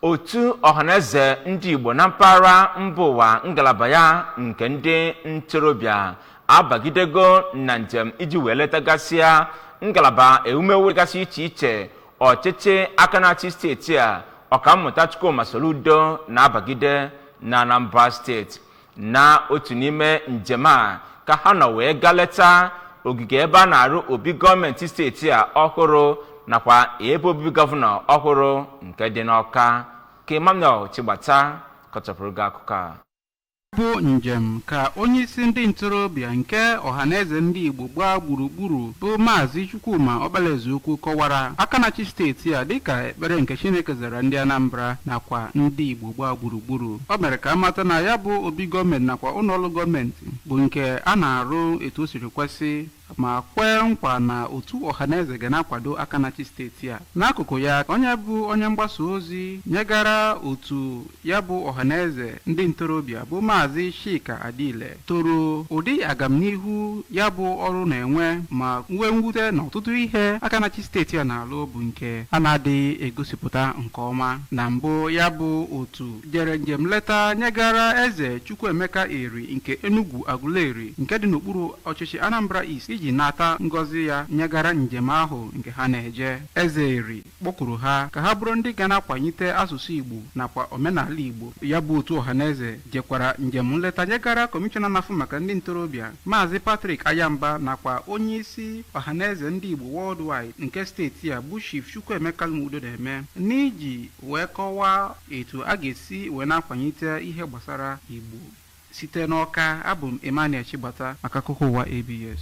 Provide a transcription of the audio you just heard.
otu ọhaneze ndị igbo na mpaghara mba ụwa ngalaba ya nke ndị ntorobịa abagidego na njem iji wee letagasịa ngalaba ewumewu gasị iche iche ọchịchị aka na-achị steeti a ọkammụta chukwuma soludo na-abagide na anambra steeti na otu n'ime njem a ka ha nọ wee gaa leta ogige ebe a na-arụ obi gọọmenti steeti a ọhụrụ nakwa ebe obibi gọvanọ ọhụrụ nke dị n'ọka ka emmanuel chigbata kọchapụrụ gị akụkọ a bụ njem ka onyeisi ndị ntorobịa nke ọhaneze ndị igbo gbaa gburugburu bụ maazị chukwuma ọkpalaezeukwu kọwara aka na-achị steeti a dịka ekpere nke chineke zara ndị anambra nakwa ndị igbo gbaa gburugburu o mere ka a mata na ya bụ obi gọọmenti nakwa ụlọọrụ gọọmenti bụ nke a na-arụ etu o siri kwesị ma kwee nkwa na otu ọhaneze ga na-akwado aka na-achị steeti a n'akụkụ ya onye bụ onye mgbasa ozi nyegara otu ya bụ ọhaneze ndị ntorobịa bụ maazị Chika Adiele toro ụdị agamnihu ya bụ ọrụ na-enwe ma nwee mwute na ọtụtụ ihe aka na-achị steeti a na-alụ bụ nke a na-adịghị egosipụta nke ọma na mbụ ya bụ otu jere njem nleta nyegara eze Chukwuemeka Eri nke Enugwu Aguleri nke dị n'okpuru ọchịchị Anambra East iji nata ngọzi ya nyegara njem ahụ nke ha na-eje eze Eri kpọkuru ha ka ha bụrụ ndị ga na-akwanyite asụsụ Igbo nakwa omenala Igbo. Ya bụ otu Ohaneze jekwara njem nleta nyegara Kọmishọna na-afụ maka ndị ntorobịa Maazị Patrick Aghamba nakwa onyeisi Ohaneze ndị Igbo Worldwide nke steeti a bụ Chief Chukwuemeka Udodeme n'iji wee kọwaa etu a ga-esi wee na-akwanyite ihe gbasara Igbo. Site n'Ọka, abụ m Emmanuel Chigbata maka akụkọ ụwa ABS.